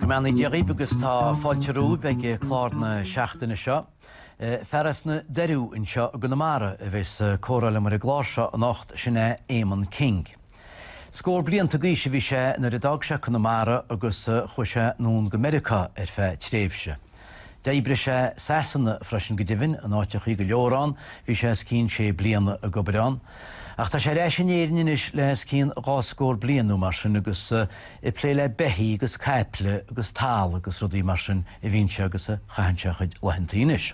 Go mbeannaí Dia dhíb agus tá fáilte romhaibh ag clár na seachtaine seo. Fear as na Doiriú anseo i gConamara a bheas ag comhrá liom ar an gclár seo anocht, sin é Éamonn King. Scór blianta d'aois a bhí sé nuair a d'fhág sé Conamara agus chuaigh sé anonn go Meiriocá ar feadh tréimhse. D'oibrigh sé i Sasana freisin, go deimhin, in áiteachaí go leor ann, bhí sé os cionn sé bliana ag obair ann. Ach tá sé ar ais in Éirinn anois le os cionn dhá scór bliain nó mar sin agus ag plé le beithígh agus caiple agus talamh agus rudaí mar sin a bhíonn sé agus a chaitheann sé a chuid laethantaí anois.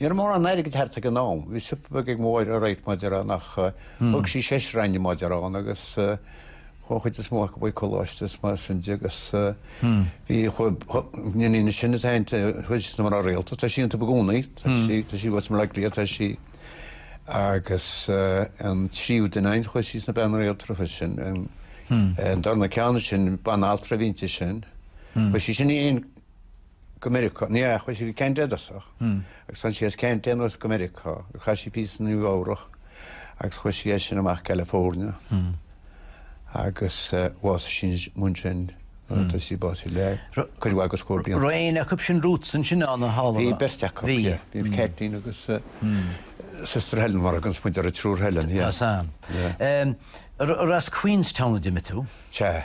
Ní raibh mórán airgid thart ag an am. Bhí siopa beag ag mo mháthair all right mar a déarfainn ach thóg sí seisear againn mar a déarfainn agus chuaigh an chuid is mó acu chuig coláiste is mar sin de agus bhí an iníon is sine atá inti chuaigh sí sna mná rialta. Tá sí iontu i gcónaí. Tá sí tá sí uait mar lia tá sí agus an tríú duine againn chuaigh sí ina bean rialta freisin an an darna ceann sin banaltra a bhí inti sin. Chuaigh sí sin anonn go Meiriceá. Ní hea, chuaigh sí go Ceanada i dtosach agus tháinig sí as Ceanada anuas go Meiriceá. Chaith sí píosa i Nua-Eabhrac agus chuaigh sí as sin amach California agus bhásaigh sí ansin. Tá sí básaithe le cuid mhaith de scór blianta. Raibh éinne acub sin romhatsa ansin ann a Helen? Bhí beirt acub, yeah. Bhí Caitlín agus sister Helen mar a thugann muid ar an tSiúr Helen, yeah. Tá a fhios agam. Yeah. Ar as Queenstown a d'imigh tú? Sea.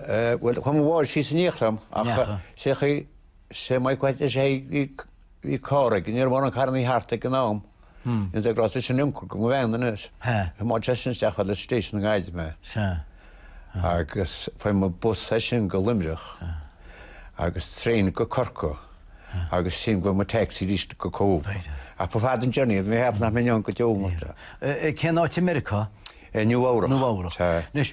Eh, bhuel, chuaigh mo mháthair síos in éineacht liom ach Neacha. sé chaoi, sé mhaith mhaith leis é bhí bhí carr ag, ní raibh mórán carrannaí thart ag an am. Is é grá sin ioncaim go bhean anois. He. Má te sin isteach go stáisiún na Gaillimhe. Sea. Agus fuair mé bus as sin go Luimneach agus traein go Corcaigh agus as sin thóg mé taxi arís go Cóbh. Ach ba fada an journey, bhí mé ag ceapadh nach mbeinn ann go deo mo. Eh, eh, cén áit i Meiriceá? Eh, Nua-Eabhrac. Nua-Eabhrac. Sea. Anois,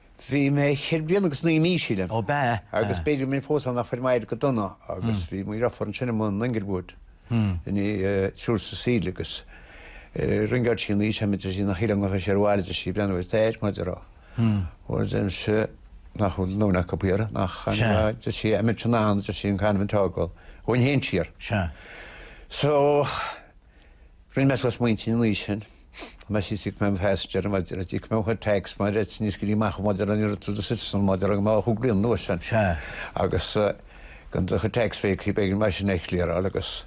Bhí mé cheithre bliana agus naoi mí, sílim. Ó, b'ea. Agus b'fhéidir go mbeinn fós ann ach fuair m'athair go dona agus bhí mo dhriofúr ansin i mbun an Englewood, an tSiúr Cecile agus ringeáil sí sin mé, is é a deir sí nach shíleann gur théis abhaile a deir sí breathnú ar d'athair, mar a déarfá. Bhuel, a deirimse nach bhfuil a ndóthain acub thiar, nach ann a deir sí Emmet Shanahan a deir sí an Carmen Togwell, a bhain féin siar. Sea. So. Rinne mé suas m'intinn ina dhiaidh sin. Chomh maith is iad mé an phaisinéir ar an bhfad ar fhad. Mo chuid tax maidir le tinneas go dtí amach an bhfad ar an iarratas do Citizen maidir le go mbeadh thú grian nua san. Agus gan do chuid tax bheidh cibé an bheidh sin ag clearáil agus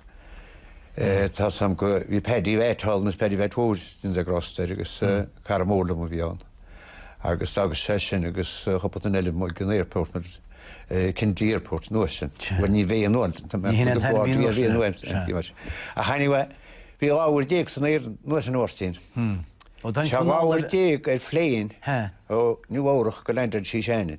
tá a fhios agam go bhí Paddy Vet thall, agus Paddy Vet mhór go ndéana Dia grásta air agus cara mór liom a bhí ann. Agus agus sé sin agus chúpla duine eile amuigh ag an airport mar Kennedy Airport an uair sin. Bhuel ní bheidh an uair sin. Ní hionann taithí bhí an uair sin. Ach anyway bhí dhá uair déag san aer an uair sin a Mháirtín. Tá dhá uair déag ar phléin ó Nua Eabhrach gur landáil sí i Shannon.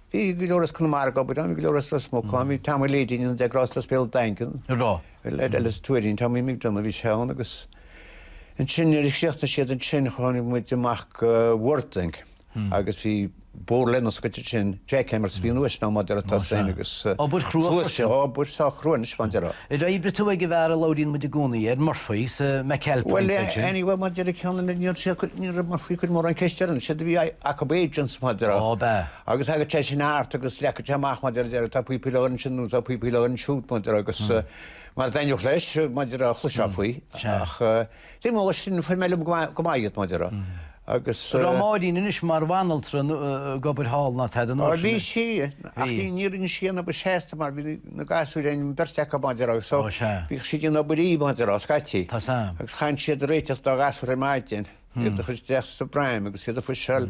Bhí go leor as Conamara ag obair ann, bhí go leor as Ros Muc ann, bhí Tom Lydon ann, Dia grásta air as Béal Daingean. An raibh? Leaid eile as Tuairín, Tommy McDonagh, bhí sé ann agus ansin nuair a chríochnaigh siad ansin tháinig muid amach go Worthing agus bhí ag obair linn scaitheamh ansin, jackhammers a bhí an uair sin ann mar a déarfá atá sin agus. Obair chrua freisin. Obair sách chrua anois mar a déarfá. Ar oibrigh tú ag an bhfear a labhraíonn muid i gcónaí air, Murphy, sa McAlpine Bhuel, place ansin? anyway, mar a déarfá ceann na, níor sé, ní raibh Murphy ag cur mórán ceist air anois, séard a bhí acub agents, mar a déarfá, Ó, ab ea? agus thagadh sé sin thart agus leagadh sé amach, mar a déarfá, deireadh, tá píopaí le dhul ansin nó tá píopaí le dhul ansiúd, mar a déarfá, agus mara dtaitneodh leis, mar a déarfá, chloisfeá faoi, ach. Taobh amuigh de sin fuair mé uilig go maith iad, mar a déarfá, agus. An raibh Máirín anois mar bhanaltra ag obair thall ná tada san áit. Bhí sí ach bhí ní rinne sí aon obair seasta mar bhí na gasúir ann beirt acu mar a déarfá agus so bhí sí ag obair oíche mar a déarfá scaití agus chaithinnse iad a réiteach na gasúir ar maidin iad a chur isteach sa bpram agus iad a phusháil.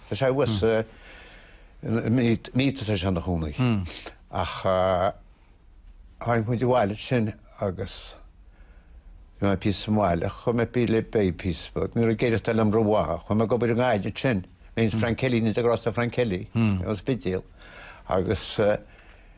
Tá sé abhus, mar a déarfá tá sé anseo ina chónaí, ach tháinig muid abhaile ansin agus bhí mé píosa sa mbaile chuaigh mé ag plé le beithígh píosa beag, ní raibh ag éireachtáil liom rómhaith, chuaigh mé ag obair i nGaillimh ansin, mé is Frank Kelly, ndéana Dia grásta ar Frank Kelly as an Spidéal, agus,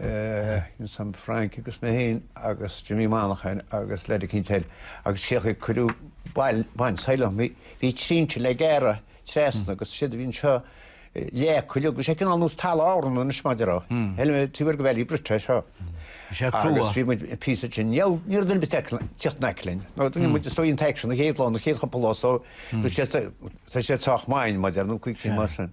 Ins am Frank agus mé féin agus Jimmy Monaghan agus Larry Quintel agus féach ag cuireadh bail bain soileach mé bhí trinse le gearradh treasna agus séard a bhí ann seo leac uilig agus sé cineál nós talamh Árann anois mar a déarfá shíl mé taobh thoir de Ballybrit seo agus bhí muid píosa ansin ní raibh ní raibh duine ar bith ag teacht in aice linn nó duine muid stoi an t-aicsean an chéad lá nó chéad chúpla lá so tá sé tá sé sách maith mar a déarfá nó cuid cinn mar sin.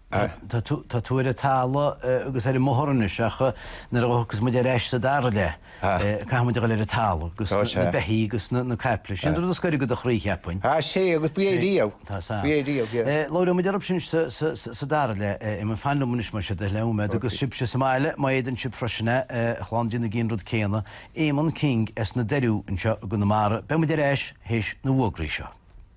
Tá tú ar an talamh agus ar an mbóthar anois ach nuair a thiocfas muid ar ais sa dara leath caithfidh muid a dhul ar an talamh agus na beithígh agus na caiple. Sin rud is gaire do do chroí, cheapfainn. Tá sé agus b'é riamh. Tá a fhios agam. B'é riamh, yeah. Labhróidh muid orthub sin sa dara leath. Éamonn, fan liom anois más é do thoil é nóiméad agus sibhse sa mbaile, má fhéadann sibh freisin é, a chlann, déanaigí an rud céanna. Éamonn King as na Doiriú anseo i gConamara. Beidh muid ar ais théis na bhfógraí seo.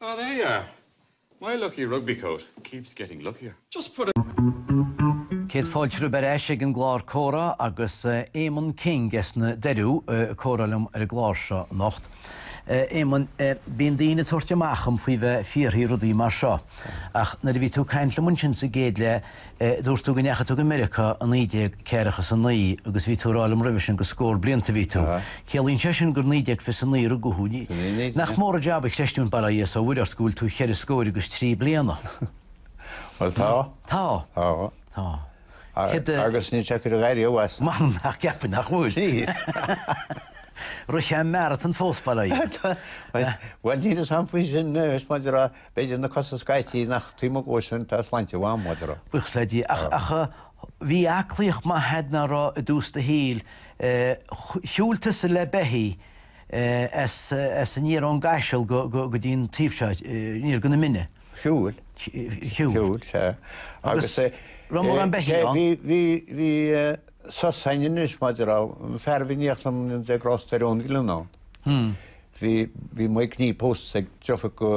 Ah, there you are. My lucky rugby coat keeps getting luckier. Just put a. Céad fáilte romhaibh ar ais ag an gclár Comhrá agus Éamonn King as na Doiriú ag comhrá liom ar an gclár seo anocht. Éamonn, bíonn daoine ag tabhairt amach dhom faoi bheith ag fiarthaí rudaí mar seo, ach nuair a bhí tú ag caint liom ansin sa gcéad leath, Dúirt tú go ndeachaigh tú go Meiriocá i naoi déag ceathracha is a naoi agus bhí tú a rá liom roimhe sin go scór blianta a bhí tú. Ciallaíonn sé sin gur naoi déag fiche a naoi a rugadh thú, ní? Nach mór an jab a chreistiúint bail ó Dhia is ó Mhuire ort go bhfuil tú cheithre scóir agus trí bliana? Bhuel, tá. Tá. Tá. Tá. Céard a. Agus níl sé curtha dhairíre uait. M'anam nach gceapfainn nach bhfuil. Níl. Rith sé an marathan fós bail ó Dhia air. Bhuel, níl fhios a'm faoi sin anois mar a déarfá. B'fhéidir na cosa scaití ach taobh amuigh dhó sin tá sláinte mhaith a'm, mar a déarfá. Buíochas le Dia. Ach bhí aclaíocht maith a'd mé a rá i dtús do shaoil. Shiúil tusa le beithígh as aniar ón gCaiseal go dtí an taobh seo, aniar go na Mine. Shiúil. Shiúil, sea. Agus raibh mórán beithígh ann? Bhí, bhí sos ann anois, mar a déarfá. An fear a bhí in éineacht liom, Dia grásta air, Eoin Ghleann ann. Bhí, bhí m'uncail pósta ag driofúr go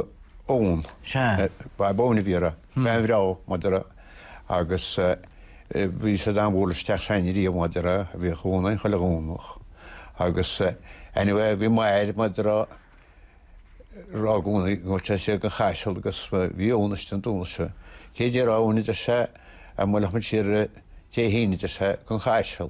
Eoin. Sea. Bab Eoin a bhí uirthi, bean bhreá mar a déarfá, agus eh, bhí siad an-mhór leis teach s'againne riamh mar a déarfá, bhí Eoin ann chuile Dhomhnach agus eh, anyway bhí m'athair mar a déarfá, rá i gcónaí go raibh sé ag an Chaiseal agus eh, bhí Eoin istigh an Domhnach seo. Céard déarfá Eoin a deir sé, dhá mbuailfeadh muid siar eh, Dé hAoine a deir sé, go an Chaiseal.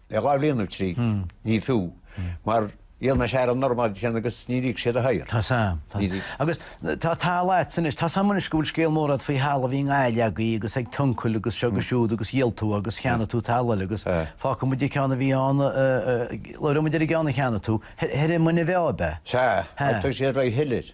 Le dhá bhliain nó trí, ní fiú, mar dhíol mé searraigh normal cheana agus níor íoc siad a shaothar. Tá fhios a'm, tá. Agus tá, tá a leithéid anois, tá fhios a'm anois go bhfuil scéal mór agat faoi thalamh a bhí i nGaillimh agaibh agus ag t'uncail agus seo agus siúd agus dhíol tú agus cheannaigh tú talamh eile agus fágfaidh muid an ceann a bhí ann, labhróidh muid ar an gceann a cheannaigh tú, thoir i Muine Mheá ab ea? Sea, agus tá siad réidh a thuilleadh.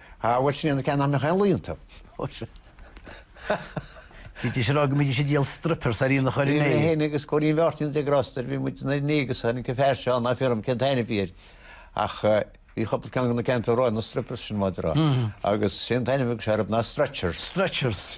Há, bhuel, sin iad na ceanna nach mbeadh aon lao iontu. Ó sea. Bhídís ag rá go mbídís ag díol strippers ar aonach Dhoire Né. Bhí mé féin agus Cóilín Mháirtín Dia grásta air, bhí muid i nDoire Né agus tháinig an fear seo ann, ná fiafraigh dhíom cén t-ainm a bhí air ach bhí chúpla ceann de na ceanna atá tú a rá, na strippers sin mar a déarfá. Agus sé an t-ainm a bhí acu seo orthub ná stretchers. Stretchers.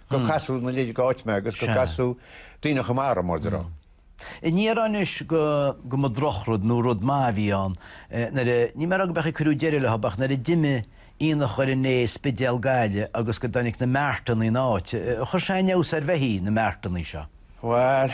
go casadh ina leithéide dh'áit mé agus go casadh daoine chomh maith orm, mar a déarfá. Níl mé a rá anois go go mba drochrud nó rud maith a bhí ann nuair a, níl mé a rá gob é an chaoi ar cuireadh deireadh leob ach nuair a d'imigh aonach Dhoire Né, Spidéal, Gaillimh agus go dtáinig na marteannaí ina n-áit, chuir sé an-fheabhas ar bheithígh, na marteannaí seo. Bhuel,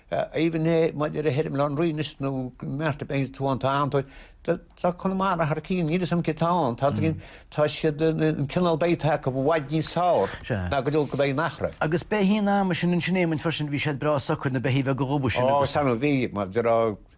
Aoibhinn Shé mar a déarfá téirim Baile Átha an Rí anois nó go mart ar bith atá ann tá ann tá Conamara thar cinn níl fhios a'm cé tá ann tá dtí tá siad an cineál beithígh atá acu i bhfad níos feárr ná go deo go beidh an Achra. Agus beithígh an ama sin ansin é muinfear sin bhí siad breá socair na beithígh bheaga dhubha sin agus. Ó sean a bhí mar a déarfá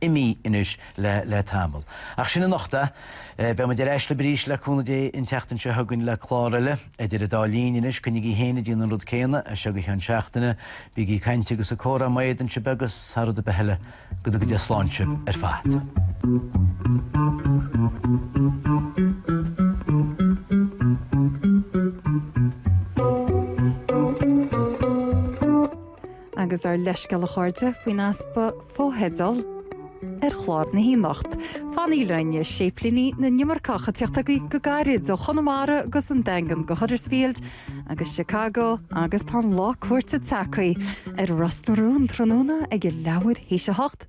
imí anois le tamall. Ach sin anocht é. Beidh muid ar ais libh arís le cúnamh Dé an tseachtain seo chugainn le clár eile. Idir an dá linn anois, coinnigí féin ag déanamh an rud céanna as seo go ceann seachtaine. Bígí ag caint agus ag comhrá má fhéadann sibh agus, thar rud ar bith eile, go dtuga Dé slán sibh ar fad. agus ár leithscéal a chairde faoin easpa fotheideal ar chlár na hAoine anocht fanaigí linn Séiplínigh na nImirceach ag teacht agaibh go gairid ó Chonamara agus an Daingean go Huddersfield agus Chicago agus tá an lá cúirte tagtha ar Ros na Rún tráthnóna ag leathuair théis a hocht.